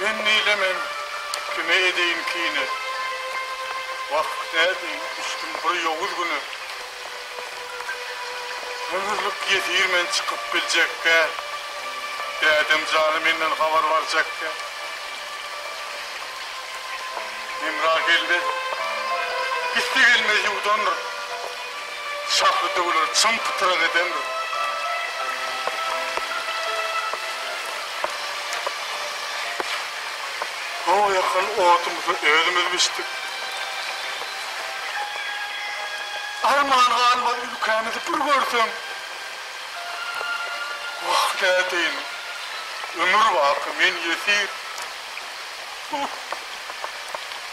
Indi-le men kime edeýin kine? Wah, nädeýin, düşdüm bir ýowuz güne. Ömürlik ýesir men çykyp biljek däl. Dädem jany menden habar barjak däl. Hemra geldi, gitse gelmez ýuwdandyr. Şahly döwleri çym pytrak edendir. Gowy ýakan odumyzy özümiz biçdik. Arman galmaz ülkämizi bir görseň. Wah nädeýin, ömür baky men ýesir.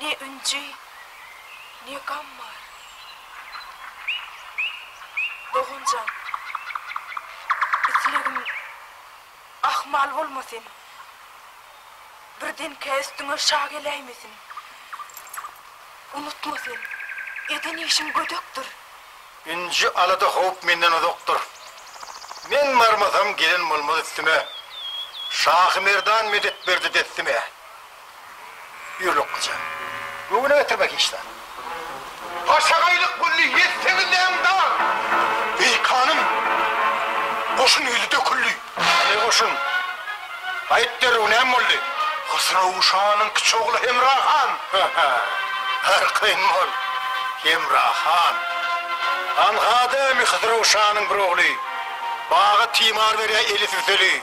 Ne ünji, ne gam bar. Dogan jan, islegim ahmal bolmasyn, birdenkä üstüňe şa geläýmesin. Unutma sen, eden işiň gödekdir. Ünji, alada-howp menden uzakdyr. Men barmasam gelen bolmaz üstüme. Şahy-merdan medet berdi dessime. Ýürekliçe. Göwne getirmek işler. Başagaýlyk gülli ýetseňiz deň dag. Eý kanym! Goşun ýüzi döküldi. Eý goşun! Aýt derrew näme boldy? Hysraw şanyň kiçi ogly Hemra han. Hä-hä. Arkaýyn bol, Hemra han. Alhada ämi Hysraw şanyň bir ogly. Baga timar berýär eli süseli.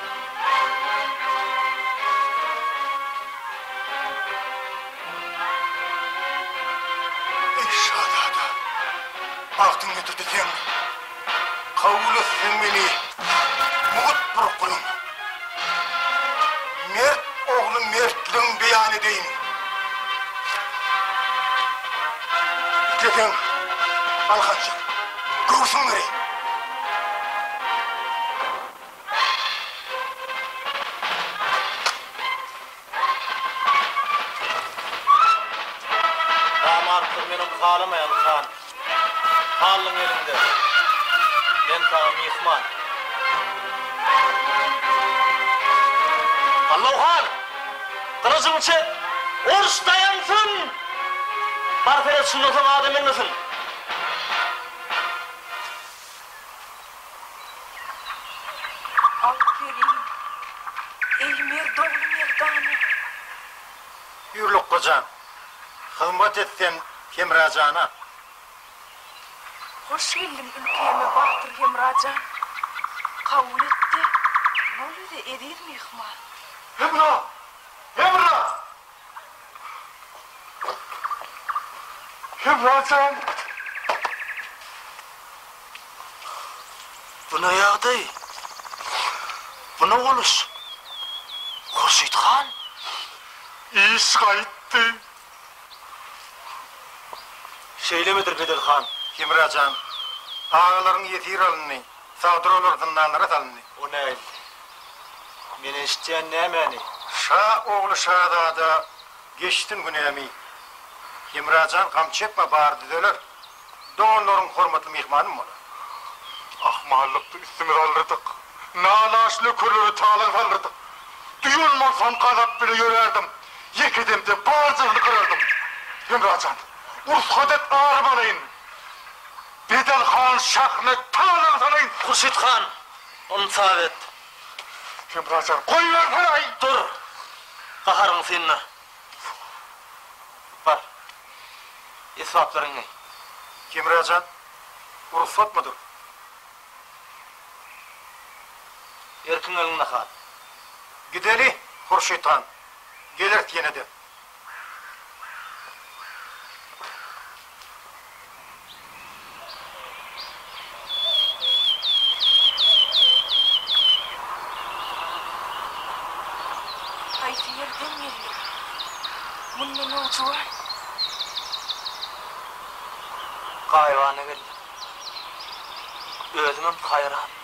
Eý şazada, bagtyň getirdi seň, kabul et sen meni, mugt bir guluň. Mert ogly mertligiň beýan edeýin. Isleseň, galkanjyk, göwsüň bereýin. Namartdyr men ony halamaýan han. Hallyň elinde men saňa myhman. Halloo han! Gylyjyňy çek! Uruş daýansyn! Bar pelet şundan soň adam ölmesin! Aw gelin, eý mert ogly merdana. Ýür lukga jan, hyzmat et sen Hemra jana. Hoş geldiň ülkäme batyr Hemra jan. Kabul et-de, bol bize eziz myhman. Hemra! Hemra! Hemrajan! Bu ne ýagdaý? Bu ne boluş? Hurşyt han? Iş gaýtdy! Şeýlemedir, Bedel han? Hemrajan, agalaryň ýesir alyndy. Sagdyr olar zyndanlara salyndy. O näildi? Men eşitýän nämäni? Şa ogly şazada geçsin günämi. Hemrajan gam çekme bary düzeler. Doganlaryň hormatly myhmanym bolar. Ahmallykdy üstümize alyrdyk. Nalaç nökerleri talaň salyrdyk. Duýan bolsam gazap bile ýörärdim. Ýeke demde barjagyny gyrardym. Hemrajan, ursgat et ary balaýyn. Bedel han şahna tas aňsalaýyn. Hurşyt han, ony tas et. Hemra jan, goýbersene-aý! Dur, gaharyňy synla. Bar, esbaplaryňy geý. Hemra jan, bu rugsatmydyr? Erkiň elinde han. Gideli, Hurşyt han, gelers ýene-de. Haýsy ýerden geldik? Mundan owjuwan. Gaýybana geldik. Özümem haýran.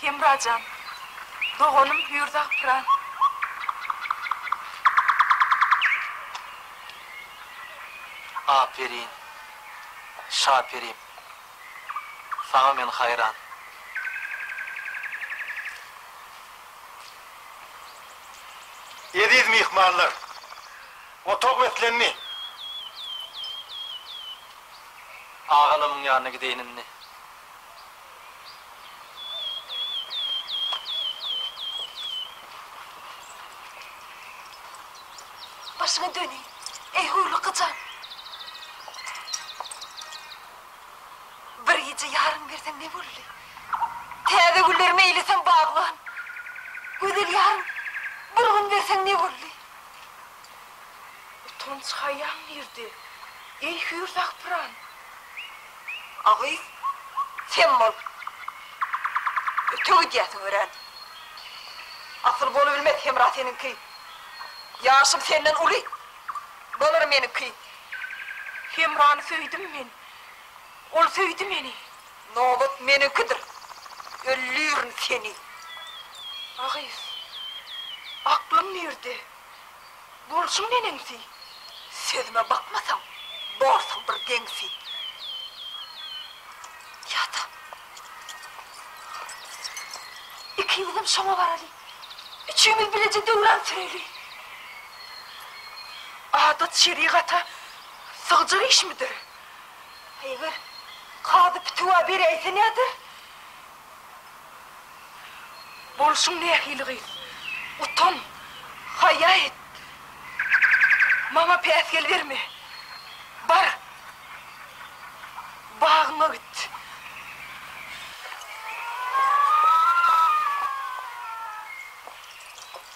Hemrajan, doganym hüýr zapyran. Aperin, şaperim. Saňa men haýran. Eziz myhmanlar! Otag beslendi. Agalamyň ýanyna gideýin indi. Başyňy döneýin, eý hurlyk jan! Bir gije ýaryň berseň ne bolly? Täze güller meýleseň baglan. Gözel ýaryň bir gün berseň ne bolly? Utanç haýaň nirde, eý hüýr zagpyran? A gyz, sen bol. Öte gidýärsiň örän. Asyl bolubilmez Hemra seniňki. Ýaşym senden uly. Bolar meniňki. Hemrany söýdüm men. Ol söýdi meni. Nobat meniňkidir. Öldürin seni! A gyz, aklyň nirde? Bolşuň neneňsi? Sözüme bakmasaň, borsuň bir deňsi! Ýa-da ikimizem şoňa baraly, üçimiz bileje döwran süreli! Adat-şerigata sygjak işmidir? Eger kazy pitiwa beräýse näder? Bolşuň nähili gyz? Utan, haýa et! Maňa päsgel berme! Bar, bagyňa git!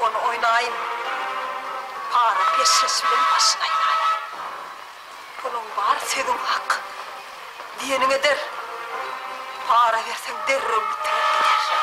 Ony oýnaýyn. Para peşgeş bilen başyny aýlaýyn. Puluň bar, sözüň hak. Diýeniň eder. Para berseň derrew bitirer gider.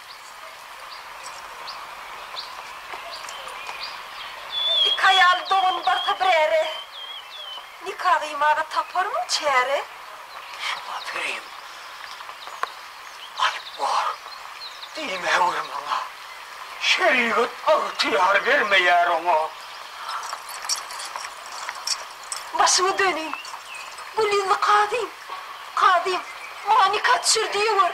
Iki aýal dogan barsa biräre, Nika gyýmaga taparmyň çäre? Şuňa pirim alyp gor, diýmäwer maňa, Şerigat agtyýar bermeýär oňa. Başyňy döneýin, gul ýüzli kazym, kazym, Maňa nika düşür diýewer.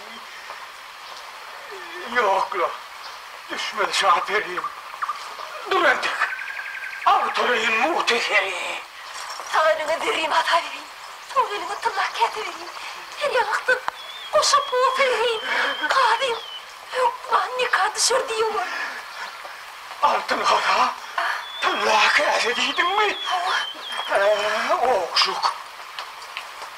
Ýok la, düşmedi şa perim. Dur entek, aw töleýin mugty seni. Sag eliňe zerrin ata berin, sol eliňe tyrnak käte berin, her ýaňy ykdyr, goşa pul serheýin, kazyň hökman nika düşer diýewer. Altyn haza, tylla käse diýdiňmi? Hawa. Hä, ogşuk.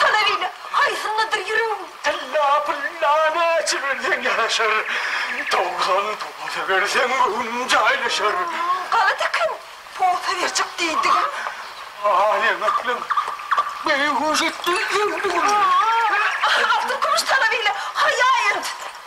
Sana beýle aýsynlydyr ýüregim. Tylla pulla näçe berseň ýaraşar, Towlan posa berseň göwnüm jaýlaşar. Galat eken, posa berjek diýdigim. Aýanaklyň beýhuş etdi ýüregim. Altyn-kümüş sana beýle haýaýent.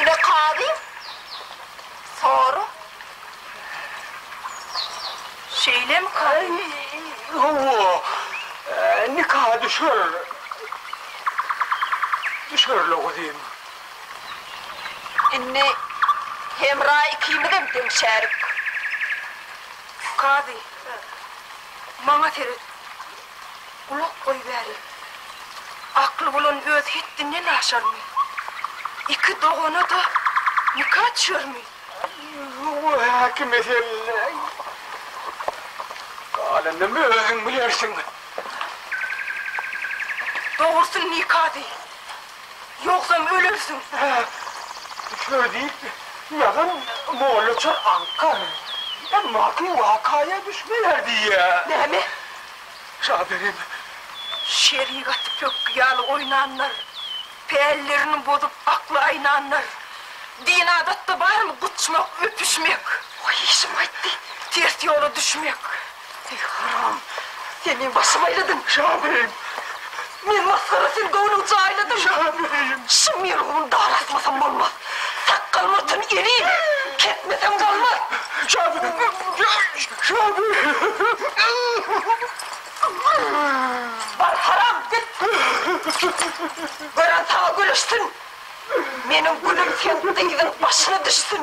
Ine kazy soru Şeýlem kazy. Hawa. Nika düşer. Düşerle guzym. Indi Hemra ikimizem deňşärik. Kazy. Maňa seret. Gulak goýbäri! Akly bolan öz hetdinden aşarmy? Iki dogana-da nika çykarmy? Aý-u-u, häkim eselläý! Galanyny özüň bilersiň! Dogrusyny nika diý! Ýogsam ölersiň. Şöýle diýip, ýazan mollaçar aňkar. Emma ki wakaýa düşmeýär diýýär. Näme? Şaberem. Şerigaty pökgi ýaly oýnanlar, pällerini bozup akly aýnanlar. Din-adatda barmy guçmak, öpüşmek. Goý işim gaýtdy. Ters ýola düşmek. Eý, haram! Sen meň başymy aýladyň! Şa beýim! Men masgara, sen göwnümi jaýladyň! Şa beýim! Şu merhumy daraşmasam bolmaz! Sakgal-murtun elin, kesmesem bolmaz! Şa beýim! Şa beýim! Bar, haram, git! Gören saňa gülüşsin! Meniň gülim seň dyzyň başyna düşsün!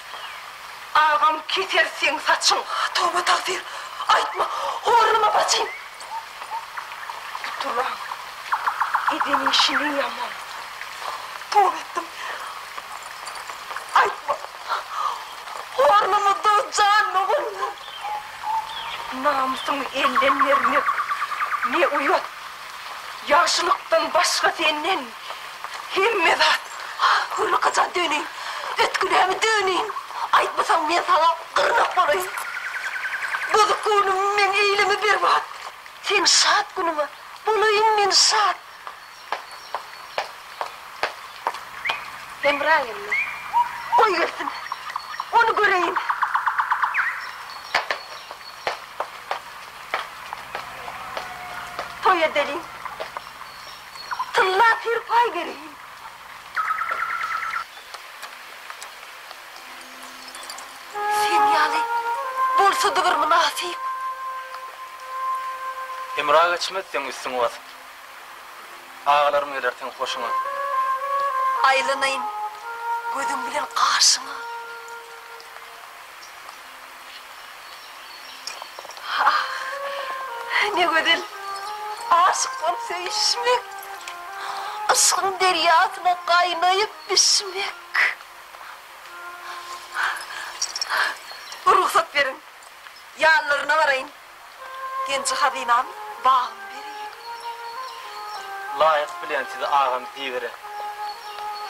Agam keser seň saçyň. Toba tagsyr aýtma horlama bacym. Gutulaň eden işini ýaman. Toba etdim aýtma horlama dos jan doganlar. Namysyňy elden bermek ne uýat ýagşylykdan başga senden. Hemme zat hyrlykaja döneýin, ötgünemi döneýin, aýtmasaň men saňa gyrnak bolaýyn. Bozuk göwnüm meň eýleme berbat, seň şat günüňe bolaýyn men şat. Hemra geldi. Goý gelsin, ony göreýin. Toý edeliň. Tylla pir paý bereýin. Sen ýaly bolsady bir mynasyp. Hemra geçmez seň üstüňi basyp. Agalarym geler seň hoşuňa. Aýlanaýyn gözüň bilen gaşyňa. Ne gözel aşyk bolup söýüşmek, yşgyň derýasyna gaýnaýyp düşmek. Rugsat beriň, ýanlaryna baraýyn. Genji hazynam bagym bereýin. Laýyk bilýän sizi agam diýibere.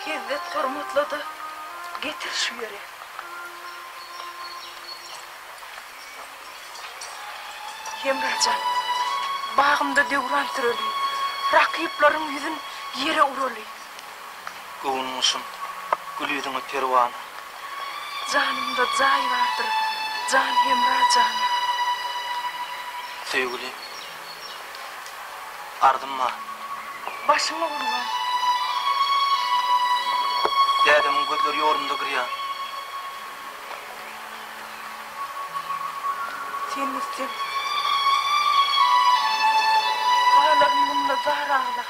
Hezzet hormatla-da getir şu ýere. Hemrajan, bagymda döwran sürelin. Rakyplaryň ýüzün ýere uralyn. Göwün guşum, gül ýüzüňe perwana. Janymda jaý bardyr, jan hemra jana. Söýgüli, arzym bar. Başyňa gurban. Dädemiň gözleri ýolumda girýär. Sen gitseň, galaryn munda zar aglap.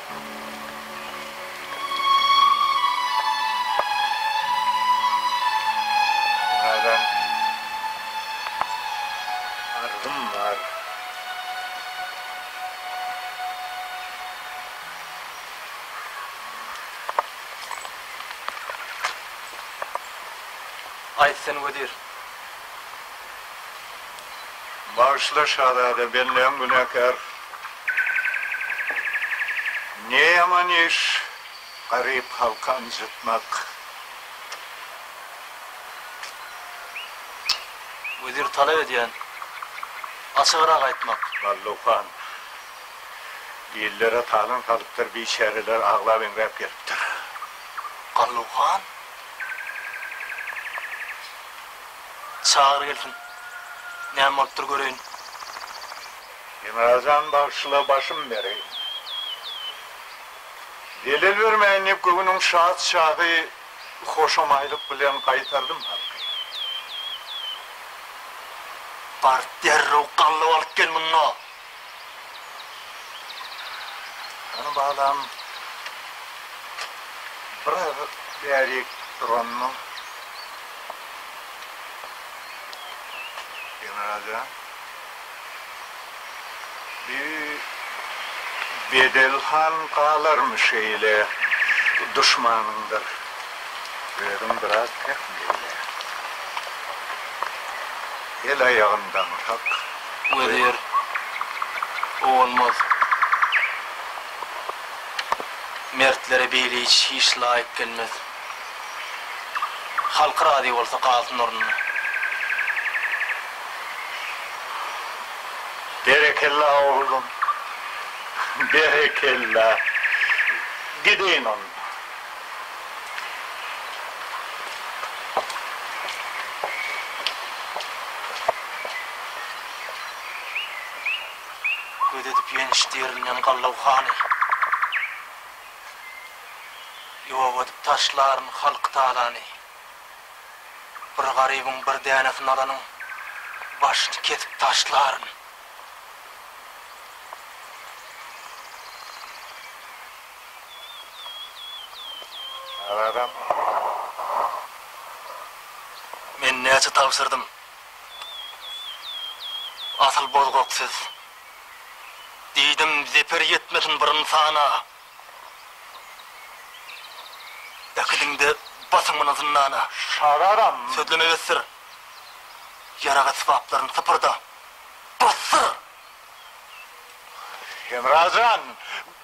Aýtsyn wezir. Bagyşla şazada, bendäň günäkär. Ne ýaman iş garyp halky ynjytmak. Wezir talap edýän açygyrak aýtmak. Balluhan. Dillere talan salypdyr biçäreler aglap eňräp gelipdir. Galluhan. Çagyr gelsin näme bolupdyr göreýin. Emra jan bagşyla başym bereý. Zelel bermeýin diýip göwnüň şat çagy hoşamaýlyk bilen gaýtardym haky. Baryp derrew gallap alyp gel munda. Hany balam biraz bärik duranmyň. Emra jan. Bi bedel han galarmy şeýle duşmanyňdyr özüň biraz pek meýle el aýagyndan hak wezir o bolmaz mertlere beýle iş hiç laýyk gelmez. Halky razy bolsa galsyn ornuna. Berekella oglum berekella gideýin onda. Göz edip ýenişdi ýerinden gallaw hany. Ýok edip taşlaryn halky talany. Bir garybyň bir dänesi nalanyň başyny kesip taşlaryn. Agagam. Men näçe tabşyrdym. Asyl bozgak siz. Diýdim, zeper ýetmesin bir ynsana. Äkidiň-de basyň muny zyndana. Şazaram. Sözleme besdir. Ýarag esbaplaryn sypyrda. Basdyr! Hemra jan,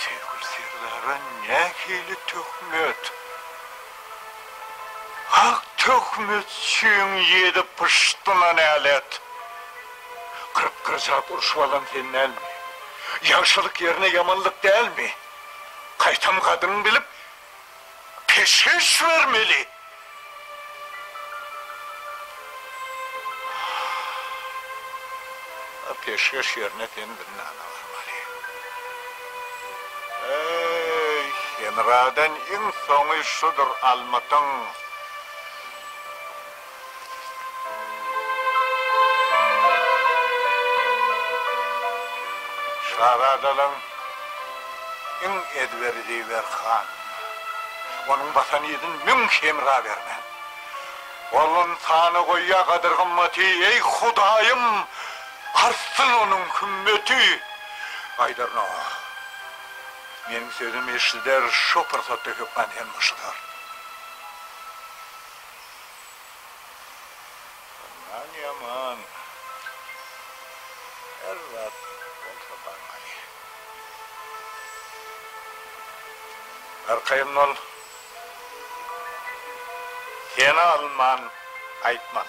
Söýgüli Serdara nähili töhmet? Ak töhmet çüň ýedi pyşdyna nälet. Kyrk bir zat urşup alan sen dälmi? Ýagşylyk ýerine ýamanlyk dälmi? Gaýtam gadyryňy bilip, peşgeş bermeli. Ol peşgeş ýerine sen zyndana barmaly. Eý, Hemradan iň soňy şudur almytyň. Şazadalaryň iň ezberi Zeýber han. Onuň basan yzyn müň hemra bermen. Ol ynsana goýýar gadyr-gymmaty, eý, Hudaýym, artsyn onuň hümmeti! Aýdar Nowa. Meniň sözüm eşider, şo pursatda hökman hem boşadar. Mundan ýaman her zat bolsa barmaly. Arkaýyn bol. Seni alman gaýtman.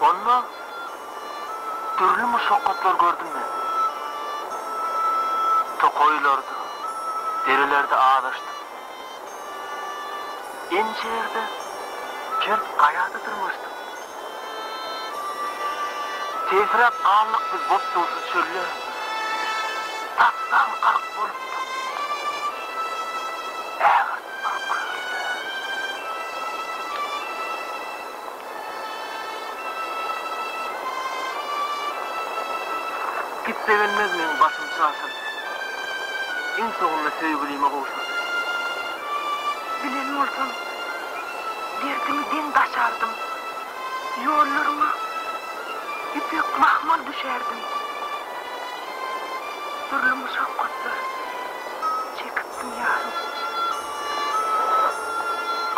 Onda dürli muşakgatlar gördüm men. Tokaýlarda, derelerde azaşdym. Ençe ýerde kert gaýada dyrmaşdym. Tesiräp galdyk biz botdugsyz çölde. Tapdan gark bolupdyk ägirt bir kölde. Gitse gelmez meň başym çaşyrdy. Iň soňunda söýgülime gowşurdym. Bilen bolsam, derdiňi deň daşardym. Ýollaryňa ýüpek mahmal düşärdim. Dürli muşakgatlar. Çekipdim ýarym.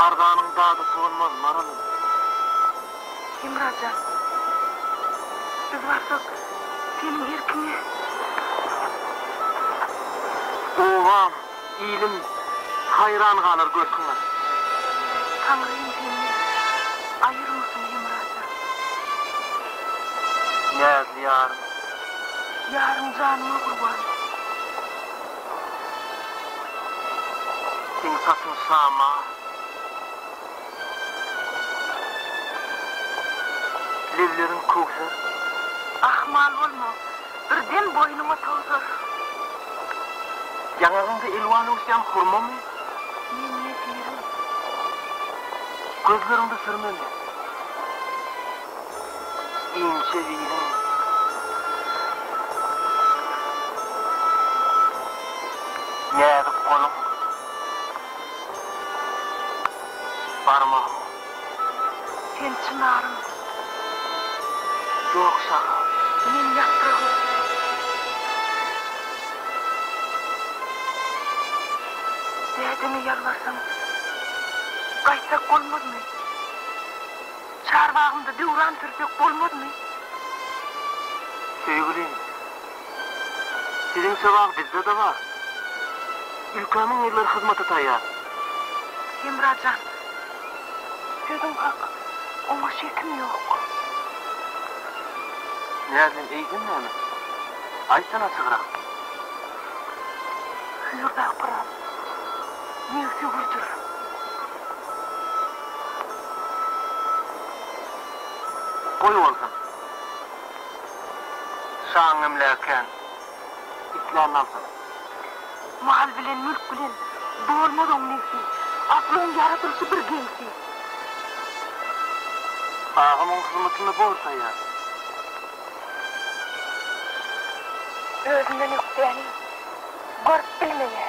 Arzanyň dady solmaz, Maralym. Hemra jan, biz barsak, seniň erkiňe. Obam, ilim haýran galar görküňe. Taňrym senden aýyrmasyn, Hemra jan. Näzli ýarym. Ýarym janyma gurban. Seň saçyň şama. Lebleriň köwser. Ahmal bolma. Bir dem boýnuňa towsar. Ýaňagyňda elwan öwüsýän hurmamy? Men ýesirim. Gözleriňde sürmemi? inçe ziliň. Näzik goluň, barmagyň. Sen çynarym, ýok şahaw. Men ýapragym. Dädeme ýalbarsaň, gaýtsak bolmazmy? Çarbagymda döwran sürsek bolmazmy? Söýgülim, siziň söwag bizde-de bar. Ülkä müň ýyllar hyzmata taýýar. Hemra jan, sözüň hak, oňa şekim ýok. Näzlim, eýsem näme? Aýtsana açygrak. Hüýrda pyram. Ýigit ýüwürdir. Goý bolsun. Şaň emlägi kän. Isläni alsyn. Mal bilen, mülk bilen dolmaz oň nebsi. Aklyň ýaradylyşy bir geňsi. Agam oň hyzmatyny bor saýar. Özünden ökdäni. Görüp bil meni.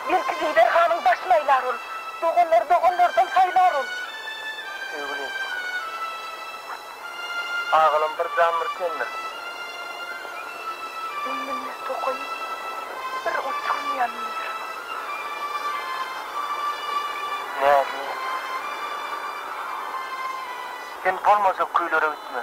Belki Zeýder hanyň başyny aýlar ol. Doganlary doganlardan saýlar ol. Söýgülim. Agalam bir jan bir tendir. Beýnimde tokaýyp bir uçurmaýan ýer. Näzli. Sen bolmajak köýlere gitme.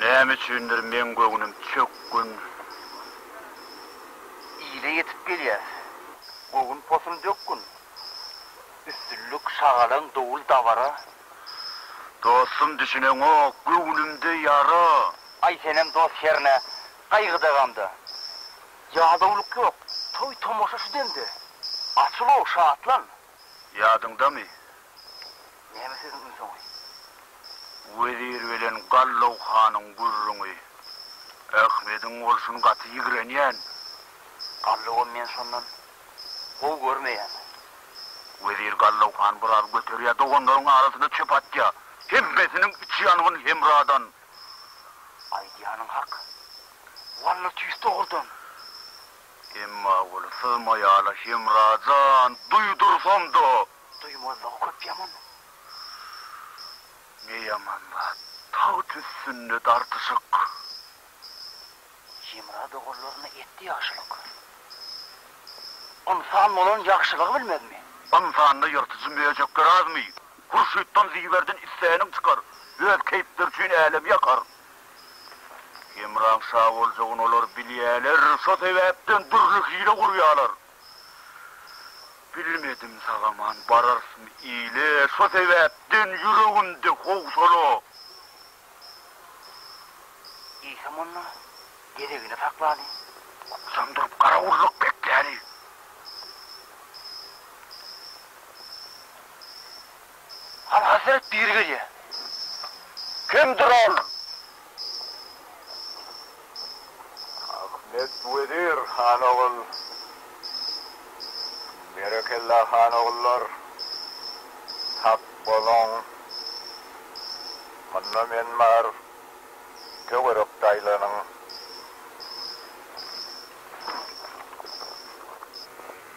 Näme üçindir meň göwnüm çök gün ile ýetip gelýär. Göwün posul dök gün. Üstünlik şagalaň dowul dabara. Dostum düşüneňok göwnümde ýara. Aý senem dost hernä gaýgyda gamda. Ýadawlyk ýok toý tomaşa şu demde. Açyl-ow şatlan Ýadyňdamy? Näme sözüň iň soňy? Wezir bilen Gallaw hanyň gürrüňi. Ahmediň bolşuny gaty ýigrenýän. Gallawam men şondan gowy görmeýän. Wezir Gallaw hany biraz göterýär, doganlaryň arasyna çöp atýar. Hemmesiniň içi ýangyn Hemradan. Aýdýanyň hak. Walla tüýs dogrudan. Emma ol syzmaýala Hemra jan, duýdursamda. Duýmazlygy köp ýaman. Ne ýaman zat, tagt üstünde dartyşyk. Hemra doganlaryna etdi ýagşylyk. Ynsan bolan ýagşylygy bilmezmi? Ynsanda ýyrtyjy möjekler azmy? Hurşytdan Ziberden isläniň çykar. Öz keýpleri üçin älemi ýakar. Hemraň şa boljagyny olar bilýärler, şo sebäpden dürli hile gurýarlar. Bilmedim, sag-aman bararysmy ile, şo sebäpden ýüregimde howsala. Eýsem onda, gezegini saklaly. Ykjam durup garawullyk bekläli. Al hazret biri gelýär. Kimdir ol? Ahmet wezir han ogul. Berekella han ogullar. Sag boluň. Munda men bar. Töwerekde aýlanyň.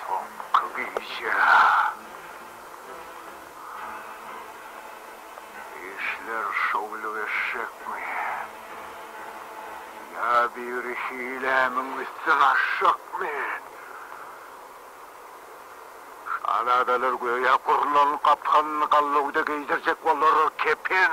Soňky gije işler şowly geçjekmi? Ýa biri hilämiň üstüni açjakmy? Şazadalar göýä gurlan gapygyny gallawda geýdirjek bolar, kepen.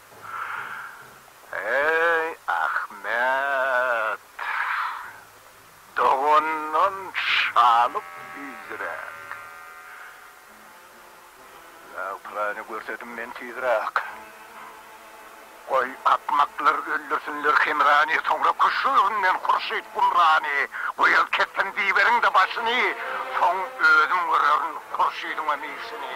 Eý, Ahmet! Dogandan şalyk tizräk! Agtygyny görsedim men tizräk! Goý, akmaklar öldürsinler Hemrany, soňra küşüginden Hurşyt Gumrany! Goý, el kessin Biberiň-de başyny, soň özüm görerin Hurşydyňam işini!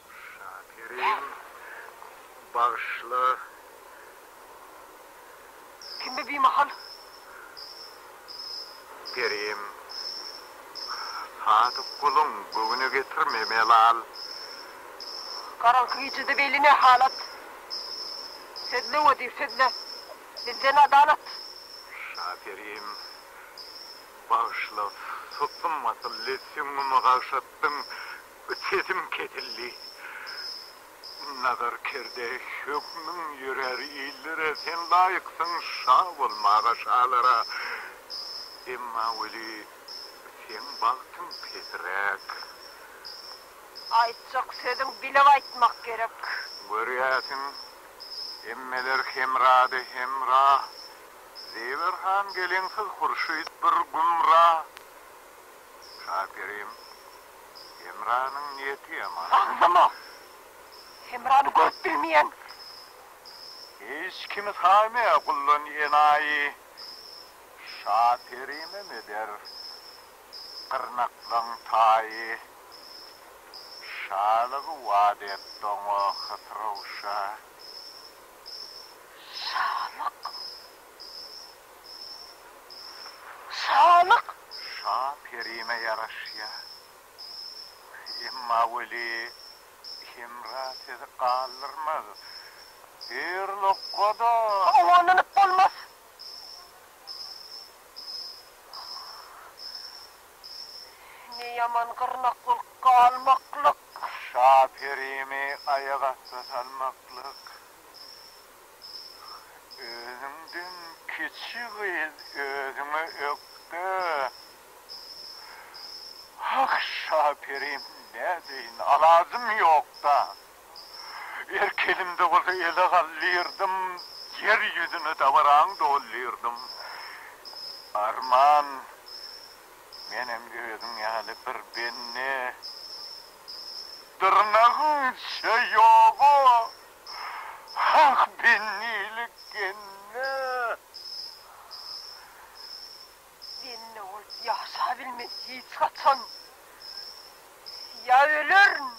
Şakerim, bagyşla. Kimde bimahal? Kerim, sadyk guluň göwne getirme, Melal. Garaňky gijede beýle ne halat? Sözle, wezir, sözle. Bizden adalat. Şakerim, bagyşla, sutdum asylly, süňňümi gagşatdyň, Sesim kesildi. Nazar kerde, Hökmüň ýörär illere, Sen laýyksyň şa bolmaga şalara. Emma weli, seň bagtyň pesiräk. Aýtjak sözüň bilip aýtmak gerek. Görýärsiň, hemmeler hemrada hemra, Zeýber han geleňsiz hurşyt bir gümra. Şakerim, Hemranyň niýeti ýaman. Agzama! Hemrany görüp bilmeýän. Hiç kimi saýmaýar guldan enaýy. Şakerimem eder gyrnaklaň taýy. Şalygy wada etdi oňa Hysrow şa. Şalyk saglyk. Şa perime ýaraşýa. Emma weli Hemra sizi galdyrmaz. Her lokgada. Howalanyp bolmaz. Ne ýaman gyrnak bolup galmaklyk. Şa perimi aýakasty salmaklyk. Özüňden kiçi gyz özüňe ökde. Ah şaperim nädeýin alajym ýokda. Erk elimde bolsa ele galdyrdym, ýer ýüzüni dabaraň doldyrdym. Arman menem özüň ýaly bir bende. Dyrnagyňça ýoga. Hak bendilik genne. Genne bolup ýaşabilmen hiç haçan. Ýa ölerin,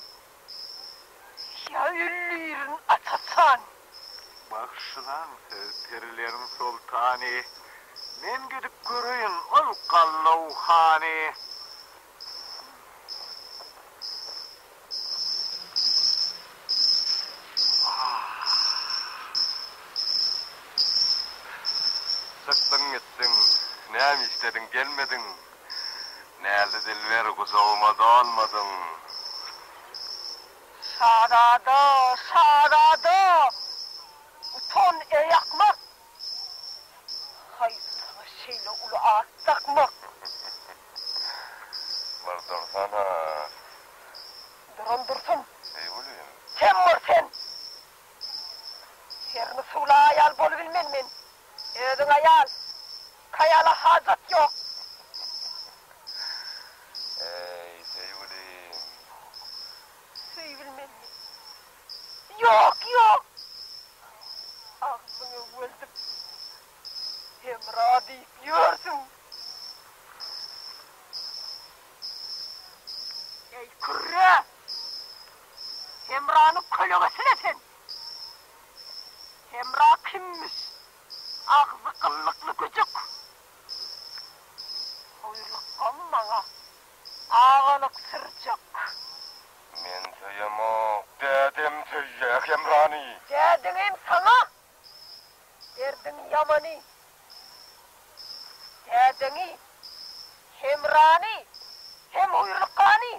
ýa öldürin aç-açan. Bagşylaň siz perileriň soltany. Men gidip göreýin ol Gallawhany. Çykdyň gitdiň, näme işlediň gelmediň, Näzli dilber gujagyma dolmadyň. Şazada, şazada! Utan, eý akmak! Haýsy saňa şeýle uly at dakmak? Bir dursana! Duran dursun! Eý welin! Sen bor sen! Hermi suwla aýal bolubilmen men! Özüň aýal! Kaýala hajat ýok! Eý, söýgülim! Söýübilmen men! Ýok, ýok! Agzyňy öweldip, Hemra diýip ýörsüň. Eý, kürre! Hemranyň kölegesi-le sen! Hemra kimmiş? Agzy gyllykly güjük! Buýruk goý maňa! Agalyk syrjak. Men söýemok. Dädem söýýä Hemrany. Dädiňem saňa derdiň ýamany. Dädeňi, Hemrany hem huýrlukany.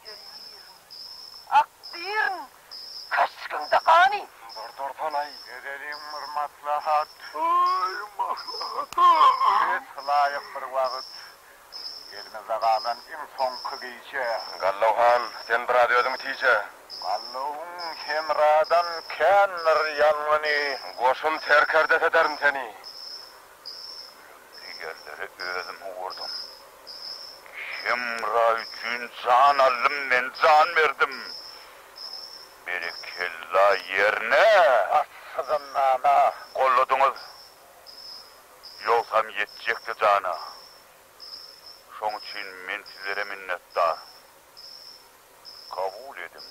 Geýir, ak birin, köşgüňde gany. Dur durtalaý, edeliň bir maslahat. Aý, maslahata. Kes laýyk bir wagt. Elimizde galan iň soňky gije. Gallow han, sen biraz özüň tije. Gallowyň hemradan kändir ýalňyny. Goşun serkerdesi ederin seni. Digerleri özüm ugurdym. Hemra üçin jan aldym men jan berdim. Berekella ýerine bassyzynana golladyňyz. Ýogsam ýetjekdi jana. Şoň üçin men sizlere minnetdar. Kabul ediň.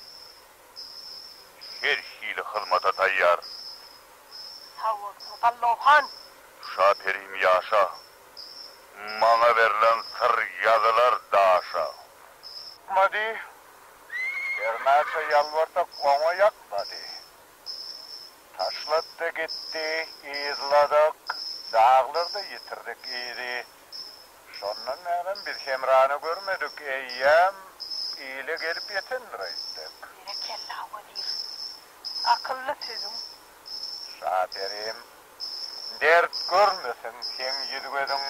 Her hili hyzmata taýýar. Sag bolsun, Gallow han! Şa perim ýaşa! Maňa berlen syr ýazylar daşa. Ýakmady. Hernäçe ýalbarsak, oňa ýakmady. Taşlady-da gitdi. Yzladyk. Daglarda ýitirdik yzy. Şondan bärem biz Hemrany görmedik, eýýäm ile gelip ýetendir aýtdyk. Berekella, wezir! Akylly sözüň. Şaperim, dert görmesin seň ýüz-gözüň.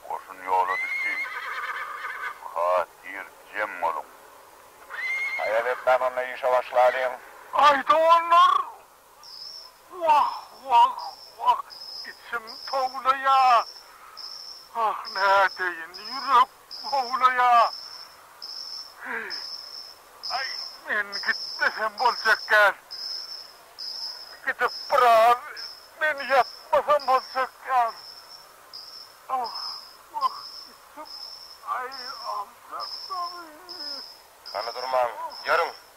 Goşun ýola düşdi. Hatyr jem boluň. Haýal etmän onda işe başlalyň. Gaýta onlar Wah, wah, wah, içim towlaýa. Ah, nädeýin, ýürek howlaýa. Heý, aý, men gitmesem boljak däl. Gidip biraz men ýatmasam boljak däl. Ah, wah, içim, aý, aljakdamy. Hany durmaň, ýörüň!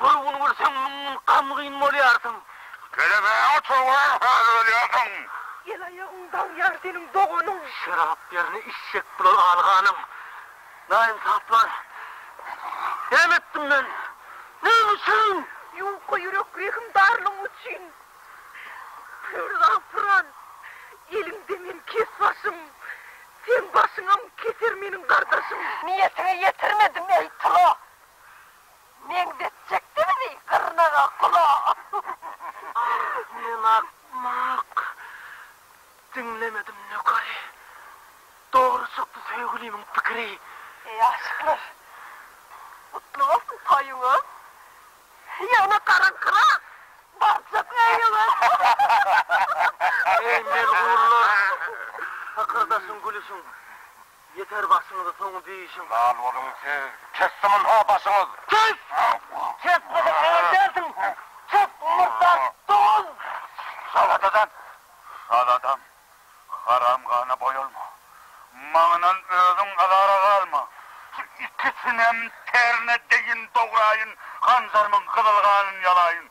Bir gün gülseň, müň gün gamgyn bolýarsyň. Gelemeýäňmi, turgulary hazyr ölýärsiň. El aýagyň dagýar seniň doganyň. Şerap ýerine işjek bular aly ganyň. Naýynsaplar! Näme etdim men? Näme üçin? Ýuka ýürek rehim darlygyň üçin. Pürrag pyran, eliňde men kes başym. Seň başyňam keser meniň gardaşym. Niýetiňe ýetirmedim, eý, tyla! Meňzetjekdimizi gyrnaga gulaga. Ah, men akmak. Diňlemedim nökeri. Dogry çykdy söýgülimiň pikiri. Eý, aşyklar! Gutly bolsun toýuňyz! Ýöne garaňkyrak barjak öýüňe. Eý, melhurlar! Hykyrdaşyň, gülüşiň. Ýeter başyňyzy soň diýişiň. Lal boluň siz. Kesdi munha başyňyz. Kes! Kesmeseň heňir dälsiň. Kes murdar dogan! Şaladadan! Şaladan! Haram gana boýalma. Maňyndan özüň azara galma. Şu ikisinem terne deýin dograýyn, hanjarymyň gyzyl ganyn ýalaýyn.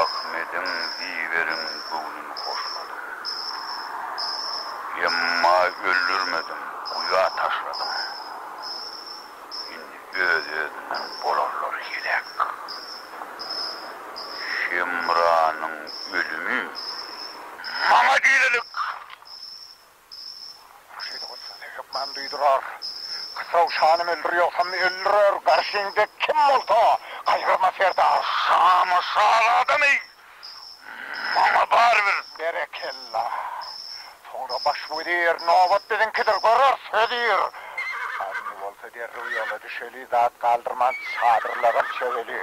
Ahmediň diýiberin göwnün hoşladyň. Emma öldürmediň, guýa taşladyň. Indi öz-özünden bolarlar heläk. Hemranyň ölümi maňa diýlelik. Şeýle bolsa ne hökman duýdurar. Kysaw şanam öldür ýogsam öldürer garşyňda kim bolsa gaýgyrma serdar. Şamy şaly adamy maňa barybir. Berekella. Soňra baş wezir nobat biziňkidir görer sözir. Indi bolsa derrew ýola düşeli zat galdyrman çadyrlaram çöweli.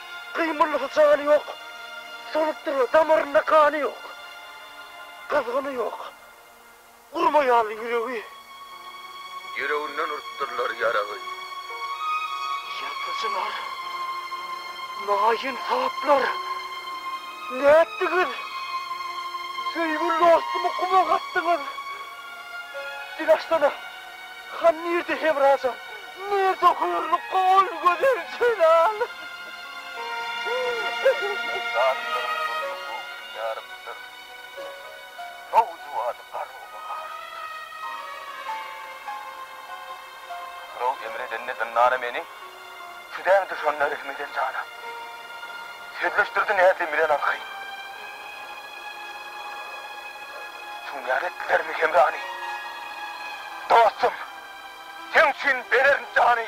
Gyýmylysy jany ýok, solup durýar, damarynda gany ýok, gyzgyny ýok, urma ýaly ýüregi. Ýüreginden urupdyrlar ýaragy. Ýazyjylar, naýynsaplar, nätdiňiz? Söýgüli dostumy guma gatdyňyz. Dil açsana! Han nirde Hemrajan? Nirde hürli gowy gözel Jelal? Zatlaryň durdy göwni ýarypdyr. Nowjuwany garrowly garypdyr. Hyraw emir edende zyndana meni. Südäň düşenler ilmiden jana. Sözleşdirdi näzli bilen arkaýyn. Şuňňar etdilermi hemrany? Dostum, seň üçin bererin jany.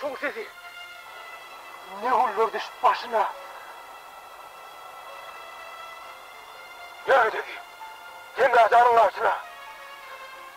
Şoň sesi ne güller düşüp başyna. Ýörgededi Hemra janyň garşyna.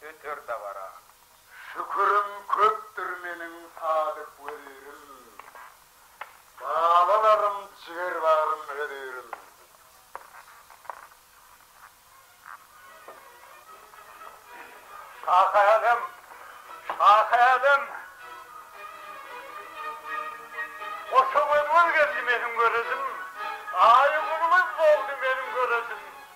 öter dabara. Şükürim köpdür meniň sadyk wezirim, balalarym, jigerbagrym, hözirim. Şahy-älem, şahy-älem, goşa göz-göz geldi meniň görezim, aýy-gündiz boldy meniň görezim.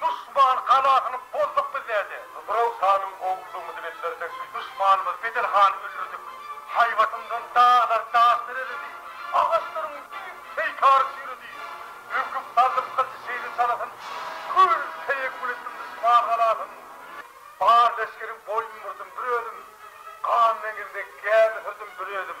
Duşman galasyny bozduk biz däde. Hybraw hanym ogullygyňyzy beslerdik. Duşmanymyz Bedel hany öldürdik. Haýbatymdan daglar daş dereledi. Agaçlaryň diýip peýkary çüýredi. Öňküp saldym gylyjy şeýle çalasyn. Kül-teýekkül etdim duşman galasyn. Bar leşgeriň boýun burdum bir özüm. Gan deňizine gämi sürdüm bir özüm.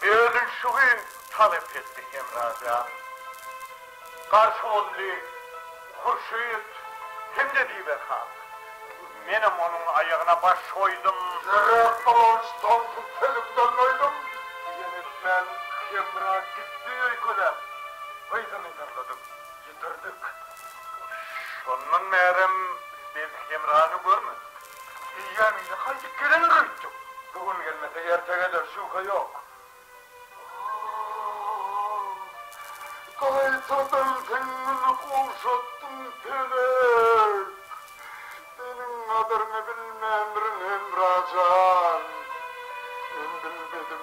Özüm şu gün talap etdi Hemra jan. Garşy boldy Hurşyt hem-de Biber han. Menem onuň aýagyna baş goýdum. Ýerräk bolanyç tomsuň tezinden doýdum. Diýen etmän Hemra gitdi öýkeläp. Gyzyny ýygnadym. Ýitirdik. Şondan bärem biz Hemrany görmedik. Eýýäm ine gaýdyp gelendir öýtdük. Bu gün gelmese erte geler, şübhe ýok. Gaýtadan seň güni gowşatdym, Pelek. Seniň gadyryňy bilmändirin, Hemra jan. Men bilmedim.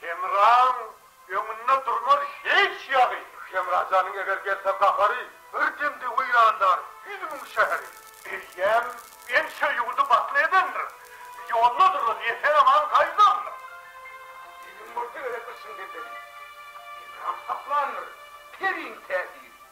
Hemraň öňünde durmaz hiç ýagy. Hemra janyň eger gelse gahary. Bir demde weýrandar ýüz müň şäheri. Eýýäm ençe ýurdy batly edendir. Ýoldadyr ol esen-aman gaýdandyr. Iliň bolsa gerek yşyň bendeli. Hemraň saklandyr periň täsiri.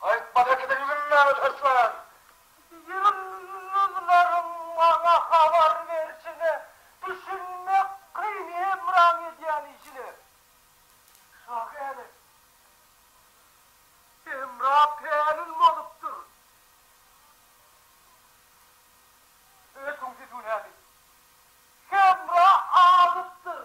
Aýtma Rekibi üzülmäge taşlan. Ýyldyzlaryň maňa habar berşine düşünmek kyn Hemraň edýän işine Şa gele Hemra pälin bolupdyr Ötüň siz bu nädip Hemra azypdyr.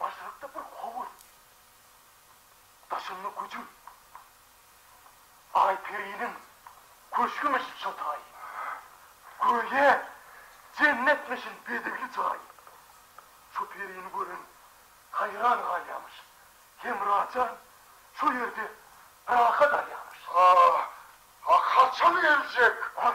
Başlykda bir howur, daşynda güjüm, Aýperiniň köşgümişin şo taý, Göýä jennetmişin bedewli jaý. Şo perini gören haýran galýamyş, Hemrajan şo ýerde rahat alýamyş. Ah, ah, haçan geljek? Ah,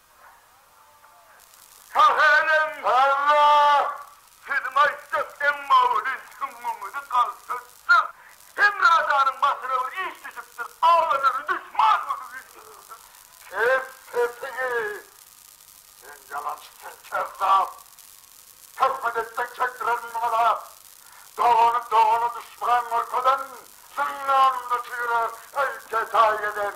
Sahelem Halla, siziň aýtjak iň mawyly süňňüňizi galtaşdyr. Hemradanyň başyna bir iş düşüpdir, agalary duşman bolup öldürildi. Kes sesiňi! Sen ýalançy, sen kezzap! Töhmet etseň çekdirerin muňa lak! Dogany dogana duşman görkezen, zyndanda çyra heýkel taý eden,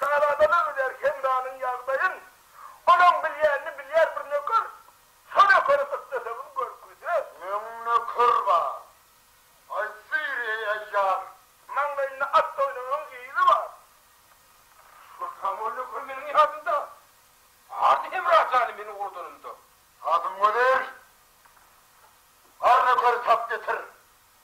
Şazadalar biler Hemranyň ýagdaýyn. Olaň bilýänini bilýär bir nöker. Şo nökeri gyssaşagyn görküde. Meň nöker bar. Aýtsyn, eý aýýar. Maňlaýynda at doýnugnyň yzy bar. Şo samaň nöker meniň ýadymda. Bardy Hemra jany meniň urdanymda. Hazym gözel! Bar nökeri tap getir.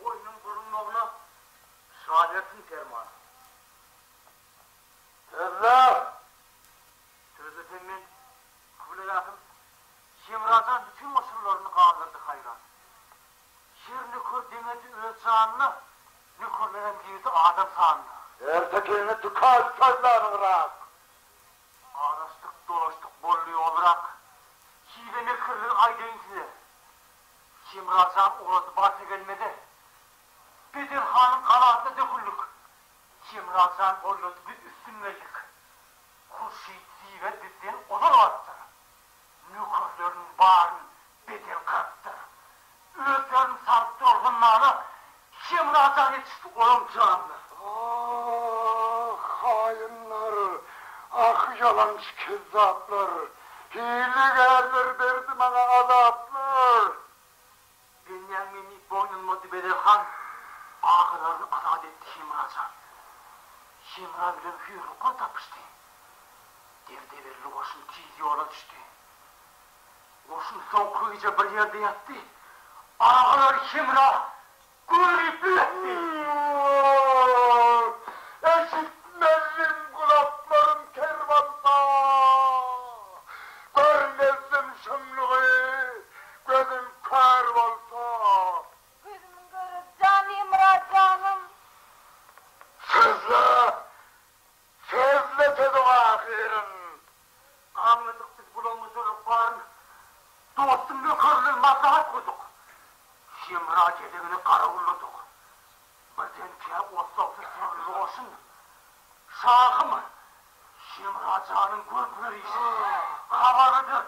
Boýnuň bulunmagyna şaýatyn perman. Sözler! Sözler sen men Kybla ýaşym Hemrajan bütin goşunlaryny galdyrdy haýran. Şir nöker deňedi öz janyna, nökerlerem girdi adam sanyna. Erte gelni dykal sözler yrak. Araşdyk, dolaşdyk boldy ýol yrak. Hile-mekirligi aýdaýyn size. Hemra jan uladyp bar tegelmede. Bedel hanyň galasyna döküldik. Hemra jan boýlady biz üstün geldik. Hurşyt Ziwer bizden ozal barypdyr. Nökerleriniň baryn Bedel gyrypdyr. Özlerini salypdyr ol zyndana. Şemrajan ýetişdi olam janly. Aah haýynlar ah ýalançy kezzaplar hilegärler berdi maňa azaplar. Benýäň meni boýnunma dübelen han agalaryn azat etdi Şemrajan. Şemra bilen Hüýrlukman tapyşdy. Derdeberli goşun tiz ýola düşdi. Goşun soňky gije bir ýerde ýatdy. Agalary hemra gürlüp ýöretdi. Woo! Eşitmezdim gulaklarym ker bolsa. Görmezdim şumlugy, gözüm kör bolsa. Gözümiň göri jan Hemra janym. Sözle! Sözle sözüň ahyryn. Aňladyk biz bulamma sözüň baryn. Dostuň nökerler maslahat gurdyk. Hemra gezegini garawulladyk. Birdenkä otlagdy syrly goşun. Şahym, Hemra janyň görüp ýöris. Habarydyr,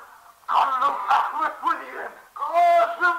Gallyň Ahmet welin. Kasym!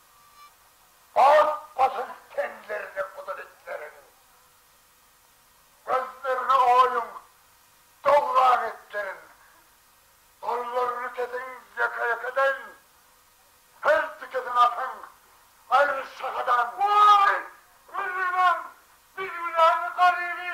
Ak pasyl tenlerine gudul itleriň, Gözlerini oýuň, dowran itleriň, Gollaryny kesiň ýeke-ýekeden, Her tikesini atyň, aýryň şahadan. Waý, Rüzügem, Bilgüläni garyby,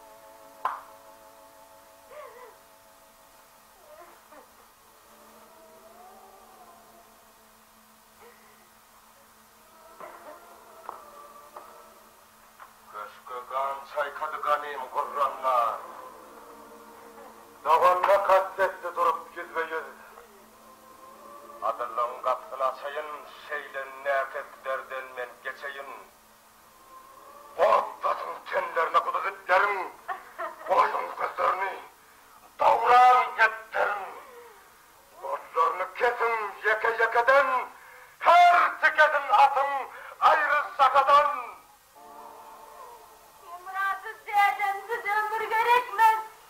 Köşge gan çaýkady ganym gurranlar. Doganyna kast etdi durup ýüzbe-ýüz. Adyllygyň gapysyny açaýyn, şeýle näkes derden men geçeýin. Gorkmasyn tenlerine gudy itleriň, Goýduň gözlerini dowran epderiň. Gözlerini kesiň ýeke-ýekeden, Her tikesini atyň aýry şahadan. Hemrasy dädem siz ömür gerekmez,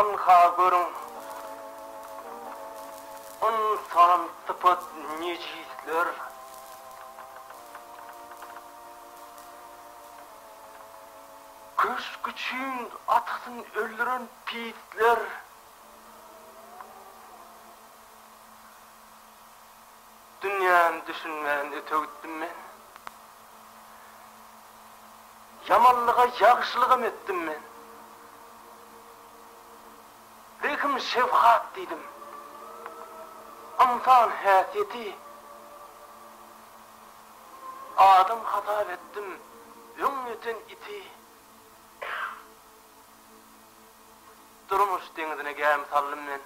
Ynha, görüň, ynsan sypat nejisler. Köşk üçin atasyn öldüren pisler. Dünýäni düşünmän öte gitdim men. Ýamanlyga ýagşylygam etdim men. Rehim şefgat diýdim. Ynsan häsiýeti adam hasap etdim öň öten iti. Durmuş deňizine gämi saldym men.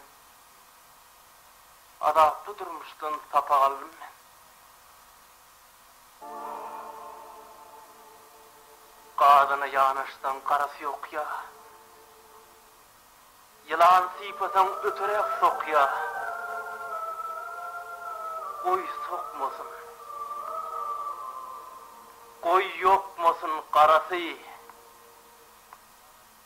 Adatly durmuşdan sapak aldym men. Gazana ýanaşsaň garasy ýokýa. Ýylan sypasaň öteräk sokýa. Goý sokmasyn. Goý ýokmasyn garasy.